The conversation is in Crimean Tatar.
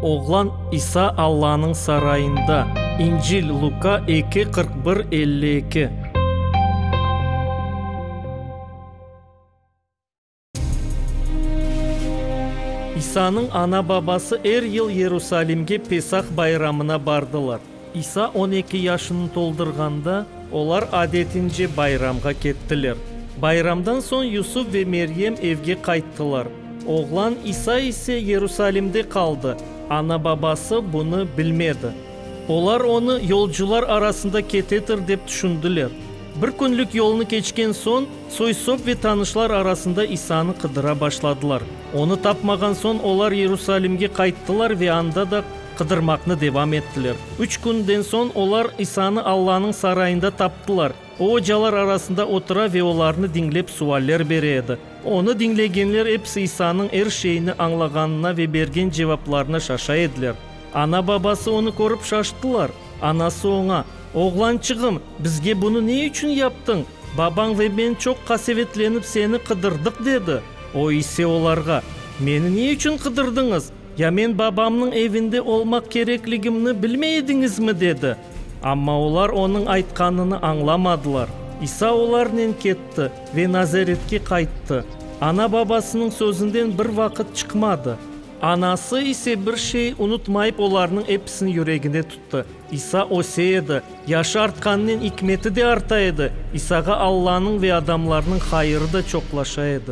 Oğlan İsa Allanıñ sarayında. İncil, Luka eki, qırq bir, elli eki. İsanıñ ana-babası er yıl Yerusalimge Pesah bayramına bardılar. İsa on eki yaşını toldurğanda. Olar adetince bayramğa kettiler. Bayramdan soñ Yusuf ve Meryem evge qayttılar. Oğlan İsa ise Yerusalimde qaldı, ana-babası bunı bilmedi. Olar onı yolcular arasında ketedir dep tüşündiler. Bir künlik yolnı keçken soñ, soy-sop ve tanışlar arasında İsanı qıdıra başladılar. Onı tapmağan soñ olar Yerusalimge qayttılar ve anda da. Qıdırmaqnı devam ettiler. Üç künden soñ olar İsanı Allanıñ sarayında taptılar. O, ocalar arasında otura ve olarnı diñlep sualler bere edi. Onı diñlegenler episi İsanıñ er şeyni añlağanına ve bergen cevaplarına şaşa ediler. Ana-babası onı körip şaştılar. Anası oña, Oğlançığım, bizge bunı ne içün yaptıñ? Babañ ve men çoq qasevetlenip seni qıdırdıq, dedi. O ise olarğa, Meni ne içün qıdırdıñız? Ya men babamnıñ evinde olmaq kerekligimni bilmey ediñizmi? dedi. Amma olar onıñ aytqanını añlamadılar. İsa olarnen ketti ve Nazaretke qayttı. Ana-babasınıñ sözünden bir vaqıt çıqmadı. Anası ise bir şey unutmayıp olarnıñ episini yüreginde tuttı. İsa öse edi, yaşı artqanınen ikmeti de arta edi, İsağa Allanıñ ve adamlarnıñ hayırı da çoqlaşa edi.